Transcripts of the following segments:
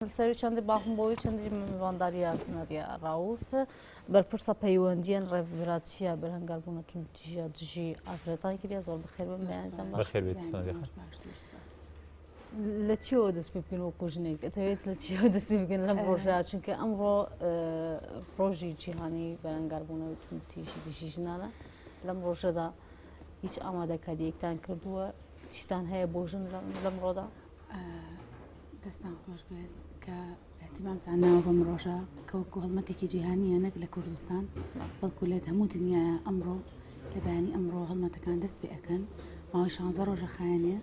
سەروی چەندی باخم بۆی چەندی مەمەوانداری یاسنەریا ڕاوف بەرپرسە پەیوەندیان ڕێڤراچیە بەرهنگار بوونە تون تیژە دژی ئافرەتان کریا زۆر بخێر بەمیانتان بەخێر بێت لە چیەوە دەست پێ بکەن وەکو ژنێک دەتەوێت لە چیەوە دەست پێ بگەن لەم ڕۆژە چونکە ئەمڕۆ ڕۆژی جیهانی بەرەنگار بوونە تون تیژی دژی ژنانە لەم ڕۆژەدا هیچ ئامادەکاریەکتان کردووە چیتان هەیە بۆ ژن لەم ڕۆدا دەستان خۆش بێت کە احتیمامتان ناوە بەم ڕۆژە کە وەکو هەڵمەتێکی جیهانیە نەک لە کوردستان بەڵکو لێت هەموو دنیا ئەمڕۆ لە بەیانی ئەمڕۆ هەڵمەتەکان دەست پێ ئەەکەن ماوەی شانزە ڕۆژە خایەنێ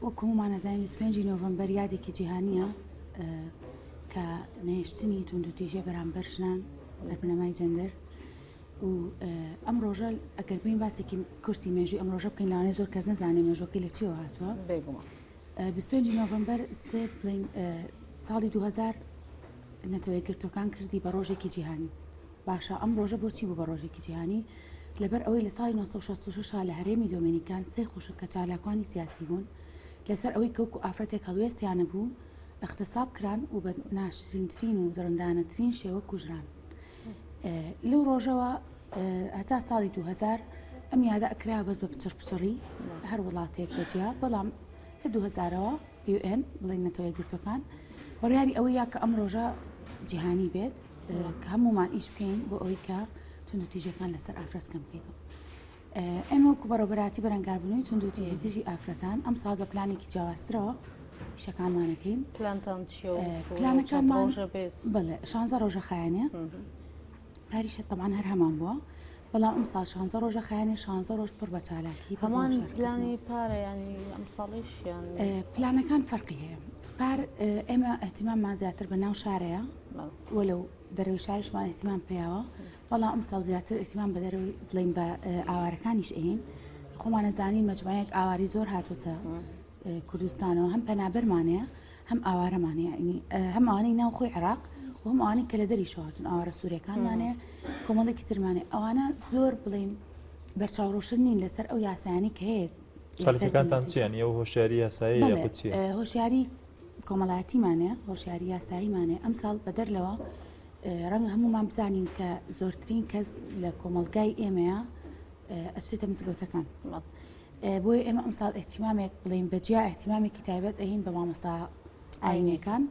وەکو هەمومانەزای 25 نۆڤمبەر یادێکی جیهانیە کە نەهێشتنی توندوتیژە بەرامبەر ژنان لە بنەمای جەندەر و ئەم ڕۆژە ئەگەر بین باسێکی کورتی مێژوی ئەم ڕۆژە بکەین لاانێ زۆر کەس نەزانێ مێژۆکەی لە چێوە هاتووە بێگومان 25 نۆڤمبەر سێ بڵین ساڵی 2000 نەتەوە یەکگرتوەکان کردی بە ڕۆژێکی جیهانی باشە ئەم ڕۆژە بۆچی بوو بە ڕۆژێکی جیهانی لەبەر ئەوەی لە ساڵی 1966 لە هەرێمی دۆمینیکان سێ خوشک کە چالاکوانی سیاسی بوون لەسەر ئەوەی کەوک و ئافرەتێک هەڵوێستیانە بوو اختصاب کران و بە ناشرینترین و دڕندانەترین شێوە کوژران لەو ڕۆژەوە هەتا ساڵی 2000 ئەم یادە ئەکرا بەس بە پچڕ پچڕی هەر وڵاتێک بەجیا بەڵام لە 2000ەوە UN بڵێن نەتەوەی گرتوەکان وەڕیاری ئەوە یا کە ئەم ڕۆژە جیهانی بێت کە هەمومان ئیش بکەین بۆ ئەوی کە تونند تیژەکان لەسەر ئافرەت کەم بکەینەوە ئێمە وەکو بەڕێوەبەراتی بەرەنگاربوونەوەی توندوتیژی دژی ئافرەتان ئەم ساڵ بە پلانێکی جیاوازترەوە پیشەکانمانەکەین پلانتان چیە و ئێ، چۆنە و پلانەکانمان- چەند ڕۆژە بێت بەڵێ شانزە ڕۆژە خایەنێ پاریشە تەمان هەر هەمان بووە بەڵام ئەم ساڵ شانزە ڕۆژە خایەنێ شانزە ڕۆژ پڕ بە چالاکی پڕ بە هەمان شەرکەت. پلانی پارە ینی ئەم ساڵیشیان ئێ، پلانەکان فەرقی هەیە پار ئێ، ئێمە ئەهتیماممان زیاتر بە ناو شارەیە بەڵێ. وەلەو دەرەوەی شارشمان ئەهتیمام پێیاوە وەڵا ئەمساڵ زیاتر ئیتیمام بەدەرەوەی بڵین بە ئاوارەکانیش ئەین خۆمانە زانین مەجموعەیەک ئاواری زۆر هاتوتە کوردستانەوە هەم پەنابەرمانەیە هەم ئاوارەمانەیە هەم ئەوانەی ناو خۆی عراق و هەم ئەوانەی کە لە دەری شواتون ئاوارە سوورەکانمانەیە کۆمەڵێکی ترمانێ ئەوانە زۆر بڵین بەرچاوڕۆشن نین لەسەر ئەو یاسایانی کە هەیە چەلەکانتان چیان ئەو هۆشاری یاسایی هۆشیاری کۆمەڵاتیمانە هۆشیاری یاساییمانە ئەمساڵ بەدەر لەوە ڕەنگە هەموومان بزانین کە زۆرترین کەس لە کۆمەلگای ئێمەیە ئەچێتە مزگەوتەکان بۆیە ئێمە ئەمساڵ ئەحتیمامێک بڵین بەجیا ئەحتیمامێکی تایبەت ئەین بە مامۆستا ئاینەکان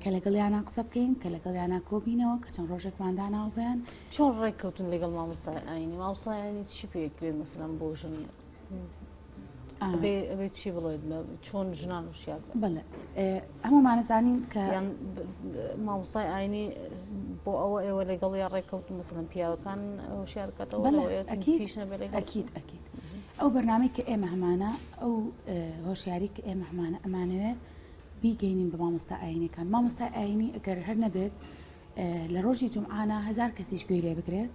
کە لەگەڵ یانە قسە بکەین کە لەگەڵ یانە کۆبینەوە کە چەند ڕۆژێکماندا ناوبیان چۆن ڕێککەوتن لەگەڵ مامۆستا ئاینی ماوسایانی چی پێکرێن مەسلم بۆ ژن ئەبێ چی بڵێت چۆن ژنان وشیاد بڵێ هەمومانەزانین کە مامۆسای ئاینی بۆ ئەوە ئێوە لەگەڵ یا ڕێککەوت مەسلم پیاوەکان شارکەتەوە ئەکیت ئەکیت ئەو بەرنمەی کە ئێمە هەمانە ئەو هۆشیاری کە ئێمە هەمانە ئەمانەوێت بیگەینین بە مامۆستا ئاینەکان مامۆستا ئاینی ئەگەر هەر نەبێت لە ڕۆژی جمعانە هزار کەسیش گوێ لێ بگرێت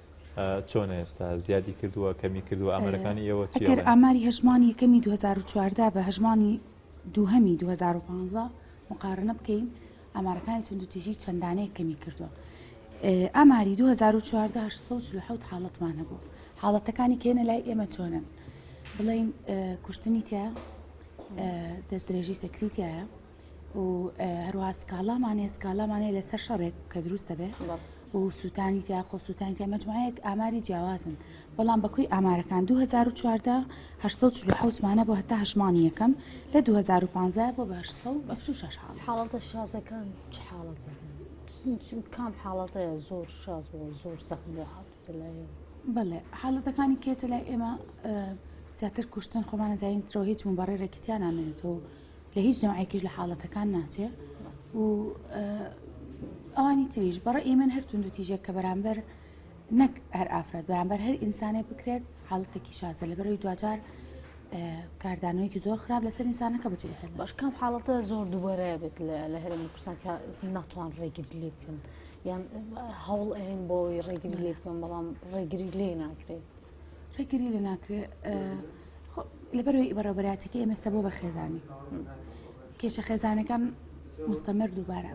چۆنە ئێستا زیادی کردووە کەمی کردووە ئامارەکانی ئێوە چیە؟ ئەگەر ئاماری هەژمانی یەکەمی 2014 بە هەژمانی دووهەمی 2015 مقارنە بکەین ئامارەکانی توندوتیژی چەندانەیە کەمی کردووە ئاماری 2014 1940 حاڵەتمان هەبوو حاڵەتەکانی کێنە لای ئێمە چۆنن بڵین کوشتنی تیا دەست درێژی سەکسیتیایە و هەروە سکاڵامان هەیە سکاڵامان هەیە لەسەر شەڕێک کە دروست دەبێت و سووتانی تیا خۆ سووتانی تیا مەجموعەیەک ئاماری جیاوازن بەڵام بەکوی ئامارەکان 2014 1970مانە بۆ هەتا هەشمانی یەکەم لە 2015 بۆ بە 1960 حاڵەتە شازەکان چ حاڵەتەکان کام حاڵەتەیە زۆر شاز بۆ زۆر سەخت بۆ هاتوتە لای بەڵێ حاڵەتەکانی کێتە لای ئێمە زیاتر کوشتن خۆمانە زین ترۆ هیچ مبارڕێکی تیان نامێنێتەوە لە هیچ نەوعێکیش لە حاڵەتەکان ناچێ و ئەوانی تریش بەڕە ئیمن هەر تونند و تیژێک کە بەرامبەر نەک هەر ئافرەت بەرامبەر هەر ئینسانێ بکرێت حاڵەتێکی شازە لە بەرەوەی دواجار کاردانەوەیکی زۆر خراپ لەسەر ئینسانەکە بچێت هەر باش کەم حاڵەتە زۆر دووبارەیە بێت لە هەرێمی کوردستان کە ناتوان ڕێگیری لێ بکەن یان هەوڵ ئەهێن بۆی ڕێگری لێ بکەم بەڵام ڕێگری لێ ناکرێت. ڕێگری لە ناکرێت لەبەرەوەی بەڕێبەراتەکە ئێمە سەبۆ بە خێزانی کێشە خێزانەکان مستەمەر دووبارە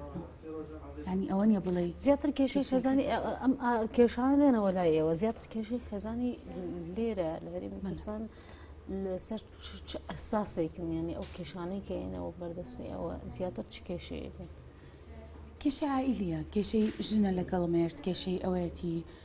ینی ئەوە نیە بڵێ زیاتر کێشەی خێزانی ئەم کێشان لێنەوە لای ئێوە زیاتر کێشەی خێزانی لێرە لە هەریم کوردستان لەسەر چ ئەساسێکن ینی ئەو کێشانەی کە ئێنەوە بەردەستی ئەوە زیاتر چ کێشەیەکن کێشە ئایلیە کێشەی ژنە لەگەڵ مێرد کێشەی ئەوەتی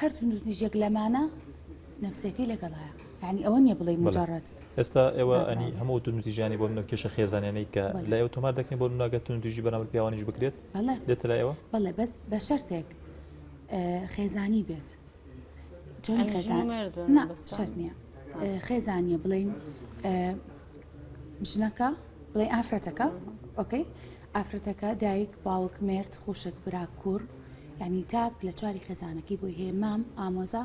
هەر توندوتیژێک لەمانە نەفسەکەی لەگەڵایە یعنی ئەوە نیە بڵێ مجارڕەت ئێستا ئێوە ئەنی هەموو توندوتیژیانی بۆ منەکێشە خێزانێنەی کە لە ئێو تۆمار دەکەین بۆ منناگە توندوژی بەنامر پیاوانیش بکرێت دێتە لایەوە بەڵێ بەس بە شەرتێک خێزانی بێت چۆن خێزان شەرت نییە خێزانە بڵین ژنەکە بڵێ ئافرەتەکە ئۆکەی ئافرەتەکە، دایک، باوک، مێرد، خوشک، برا، کوڕ، یانی تاک لە چواری خێزانەکەی بۆی هەیە، مام، ئامۆزا،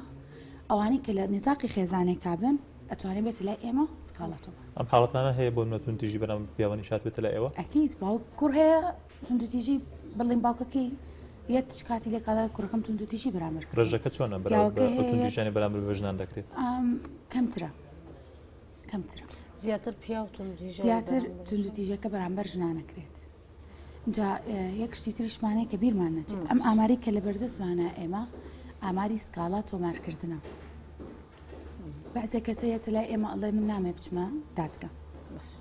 ئەوانەی کە لە نطاقی خێزانێکا بن ئەتوانێ بێتە لای ئێمە سکاڵا تۆ بکا. ئەم حاڵەتانە هەیە بۆ نمونە توندتیژی بەرامبەر بە پیاوانی شات بێتە لای ئێوە؟ ئەکید باوک کوڕ هەیە توندوتیژی بڵێن باوکەکەی یەت چ کاتی لێ کاڵای کوڕەکەم توندوتیژی بەرامبەر کرد. ڕێژەکە چۆنە بەراورد بە ئەو توندوتیژیانەی بەرامبەر بە ژنان دەکرێت؟ کەمترە. کەمترە زیاتر پیاو زیاتر توندوتیژەکە بەرامبەر ژنانەکرێت. جا یەک شتی تریشمانەیە کە بیرمان نەچێت ئەم ئاماری کە لە بەردەستمانە ئێمە ئاماری سکاڵا تۆمارکردنە بەعزێک کەسەیەتە لای ئێمە ئەڵێ من نامێ بچمە دادگە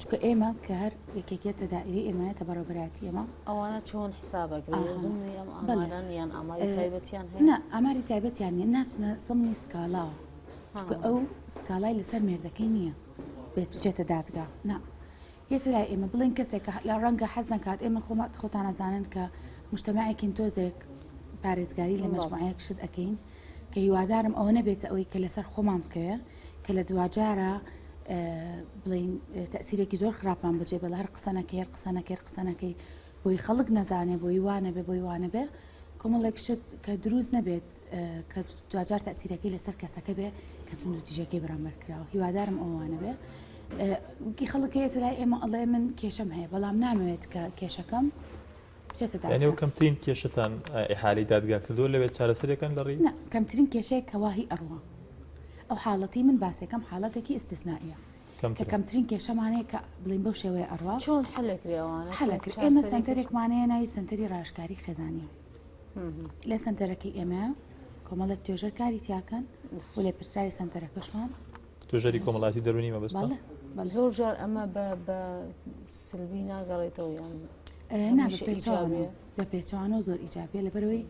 چکە ئێمە کە هەر یەکێکێتە دائری ئێمەیەتە بەڕێبراتی ئێمە ئەوانە چۆن حسابەگرێزمیان ئەماریان هەیە ئەماری تایبەتیان نیە ناچنە زمنی سکاڵاوە چونکە ئەو سکاڵای لەسەر مێردەکەی نییە بێت بچێتە دادگا نا یەتە لای ئێمە بڵێن کەسێکە لە ڕەنگە حەز نکات ئێمە خۆمات خۆتانەزانن کە مشتماەکین تۆزێک پارێزگاری لە مەجموعەیەک شت ئەەکەین کە هیوادارم ئەوە نەبێتە ئەوەی کە لەسەر خۆمان بکەوێ کە لە دواجارە بڵین تەسیرێکی زۆر خراپان بەجێ بە هەر قسەنەکەی هەر قسەنەکەی قسەنەکەی بۆی خەڵک نەزانێ بۆی وانە بێ بۆی وانە بێ کۆمەڵێک شت کە دروست نەبێت کە دواجار تەسیرەکەی لەسەر کەسەکە بێ کە تون و تیژەکەی بەرامبەر کراوە هیوادارم ئەوانە بێ گی خەڵک هەیە لای ئێمە ئەڵێ من کێشەم هەیە بەڵام نامەوێت کە کێشەکەم بچێتەدانەوە کەمترین کێشتان ئحالی دادگا کردووە لەوێت چارەسەرەکەن لە ڕی کەمترین کێشەیە کەواهی ئەڕوە ئەو حاڵەتی من باسەکەم حاڵەتێکی ئستسنائە کە کەمترین کێشەمانەیە کە بڵین بەو شێوەیە ئەڕوا چۆن حلەکرێوانە حلەکرد ئێمە سنتەرێکمانەیە ناوی سنتەری ڕاشکاری خێزانە لە سەنتەرەکەی ئێمە کۆمەڵێک توێژەر کاری تیاکەن و لە پرسراوی سەنتەرەکەشمان توێژەری کۆمەڵاتی دەرونی مەبست زۆر جار ئەمە بە سلبی ناگەڕێتەوە یان بە پێچوانە زۆر ئیجابە لە بەرەوەی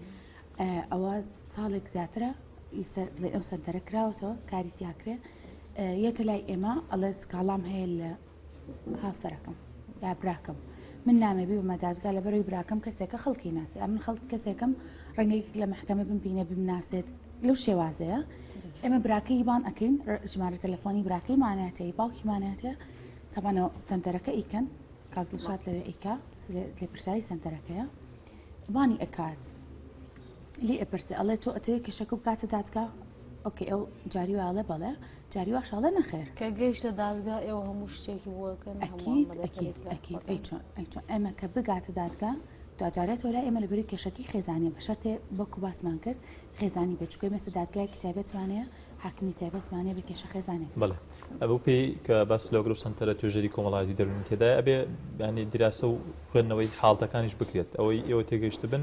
ئەوە ساڵێک زیاترە لەسەر بڵێ ئەم سەنتەرە کراوەتەوە کاری تیاکرێ یەتە لای ئێمە ئەڵێ سکاڵام هەیە لە هاوسەرەکەم یا براکەم من نامێ بیبمە دادگا لەبەرەوەی براکەم کەسێکە خەڵکی ناسی ئەمن خەڵک کەسێکم ڕنگێک لە محکەمە بم بینە بمناسێت لەو شێوازەیە ئێمە براکەی بان ئەەکەین ژمارە تەلەفۆنی براکەی ماناتەی باوکی ماناتە تەبانەوە سنتەرەکە ئیکەن کاک دڵشات لەوێ ئیکا لە پرسایی سنتەرەکەیە بانی ئەکات لی ئەپرسێ ئەڵێ تۆ ئەتەوێت کەشەکە بکاتە دادگا ئۆکەی ئەو جاری واڵێ بەڵێ جاری واشاڵە نەخێر کە گەیشتە دادگا ئێوە هەموو شتێکی بووەکەن ئەمە کە بگاتە دادگا دواجارێت وەلا ئێمە لە بەری کێشەکی خێزانانی بە شەرێ بەکو باسمان کرد خێزانی بچکۆی مەسە دادگای کتابەتمانەیە حاکمی تایبەتمانێ بە کێشە خێزانێک بڵێ ئەوەو پێی کە باس لەگرو سنتەرە توێژری کۆمەڵاتی دەرونی تێدا ئەبێ ینی دراسە و خوێندنەوەی حاڵتەکانیش بکرێت ئەوەی ئێوە تێگەیشت بن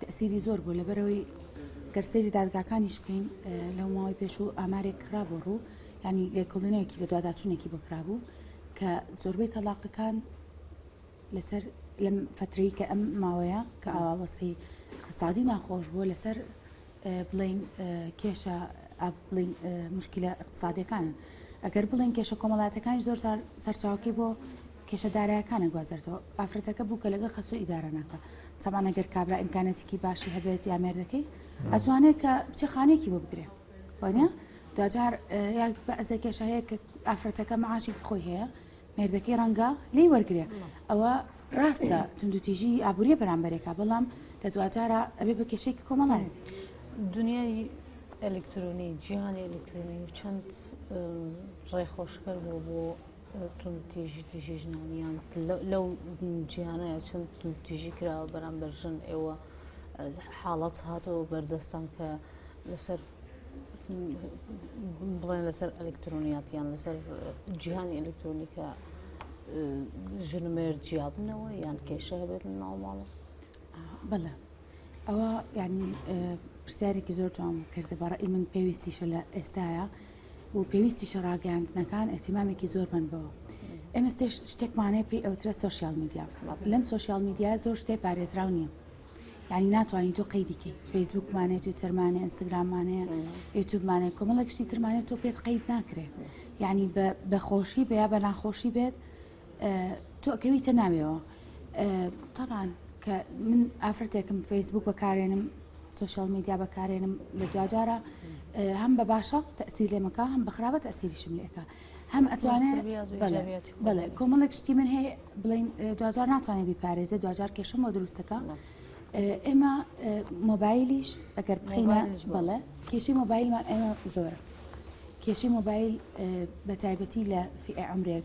تەئسیری زۆر بوو لەبەرەوەی گەر سەیری دادگاکانیش بکەین لەو ماوەی پێش و ئامارێک کرا بۆ ڕوو ینی لێکۆڵینەوەکی بە دوواداچوونێکی بۆ کرابوو کە زۆربەی تەلاقەکان لەسەر لەم فترەی کە ئەم ماوەیە کە ئاوا وەسعی اقتصادی ناخۆش بووە لەسەر بڵین کێشە بڵین مشکلە اقتصادەکانن ئەگەر بڵین کێشە کۆمەڵاتەکانی زۆر سەرچاوکەی بۆ کێشە دارایەکانە گوازرتەوە ئافرەتەکە بوو کە لەگە خەسو ئیدارە ناکە تەبانە گەر کابرا ئیمکانەتێکی باشی هەبێت یا مێردەکەی ئەتوانێت کە بچێ خانێکی بۆ بگرێ وانە دواجار بەزە کێشە هەیە کە ئافرەتەکە معاشێکی خۆی هەیە مێردەکەی ڕەنگە لی وەرگێ ئەوە ڕاستە تونندوتیژی ئابوووریە بەرامبەرێکە بەڵام لە دواجارە ئەبێ بە کێشێکی کۆمەڵایەت دنیای ئەلکترۆنی جیهانی ئەلکترۆنی و چەند ڕێخۆشکەر بوو بۆ توندتیژی دژی ژنان یان لەو جیانەیە چون توندتیژی کراوە بەرامبەر ژن ئێوە حاڵەت هاتەوە بەردەستان کە لەسەر بڵێن لەسەر ئەلکترۆنیات یان لەسەر جیهانی ئەلکترۆنیکە ژنمێر جیابنەوە یان کێشە هەبێت لە ناوماڵە بەڵێ ئەوە یعنی پرسیارێکی زۆر جوان کردە بەڕی من پێویستیشە لە ئێستاە و پێویستیشە ڕاگەیاندنەکان ئیهتیمامێکی زۆر بەن بەوە. ئێمە شتێکمان هەیە پێی ئەوترێ سۆشیال میدیا. لەم سۆشیال میدیایە زۆر شتێ پارێزراو نییە. یعنی ناتوانین تۆ قەیدی کەی. فەیسبووکمان هەیە، تویتەرمان هەیە، ئینستاگراممان هەیە، یوتیوبمان هەیە، کۆمەڵێک شتی ترمان هەیە تۆ پێت قەید ناکرێ. یعنی بە بە خۆشی بێ یا بە ناخۆشی بێت تۆ ئەکەویتە ناویەوە تەبان کە من ئافرەتێکم فەیسبوک بەکارێنم سوۆشال میدیا بەکارێنم لە دواجارە هەم بە باشە تەسییر لێمەکە هەم بەخراوە تەسیریشم لێکە هەم ئەتوانێت بڵێ کۆمەڵێک شتی من هەیە بڵین دواجار ناتوانێت بیپارێزە دواجار کێشم بۆ دروستەکە ئێمە مۆبایلیش ئەگەر بخینە بڵێ کێشی مۆبایلمان ئێمە زۆرە کێشی مۆبایل بە تایبەتی لە فئ عمرێک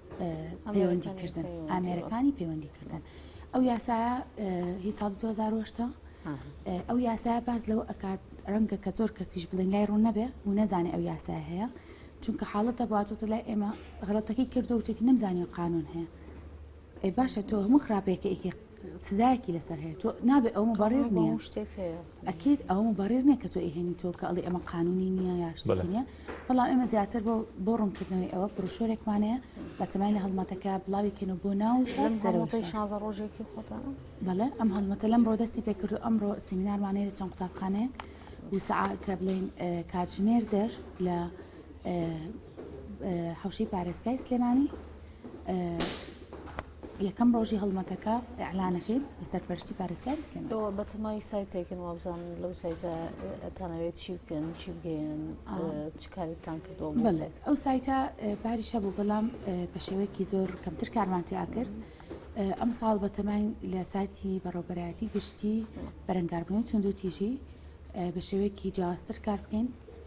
پەیوەندیکردن ئامێرەکانی پەیوەندیکردن ئەو یاسا هی ساڵ 2010 ئەو یاسا باز لەوە ئەکات ڕەنگە کە زۆر کەسیش بڵێن لای ڕوون نەبێ و نەزانێ ئەو یاسا هەیە چونکە حاڵەتە باتۆتە لای ئێمە غڵەتەکەی کردو وتێتی نەمزانانی قانون هەیە ئەی باشە تۆ هەموو خراپەیەکە ئیکی سزایەکی لەسەر هەیە تۆ نابێ ئەو مبرر نییە شتێک ئەکیت ئەو مبرر نییە کە تۆ ئیهێنی تۆ کە ئەڵی ئەمە قانونی نییە یا شتێکی نییە بەڵام ئێمە زیاتر بۆ بۆ ڕوونکردنەوەی ئەوە بروشۆرێکمانەیە بە تەمای لە هەڵمەتەکە بڵاویکەن و بۆ ناو شازە ڕۆژێکی خۆتە بەڵێ ئەم هەڵمەتە لەم ڕۆدەستی پێکرد و ئەمڕۆ سیمینارمانەیە لە چەند قوتابخانەیەک وسعا کە بڵین کاتژمێر دەر لە حەوشەی پارێزگای سلێمانی یەکەم ڕۆژی هەڵمەتەکە ئەعلانەکەی بە سەرپەرشتی پارێزگاری سلێمانی ئەوە بەتەمای سایتێکن وابزان لەو سایتە ئەتانەوێت چی بکەن چی بگەیەن چ کارێکتان کردەوە ئەو سایتە پاریشە بوو بەڵام بە شێوەیەکی زۆر کەمتر کارمان تیا کرد ئەم ساڵ بەتەمای لە سایتی بەڕۆبەرایەتی گشتی بەرەنگاربوونی توندوتیژی بە شێوەیەکی جیاوازتر کار بکەین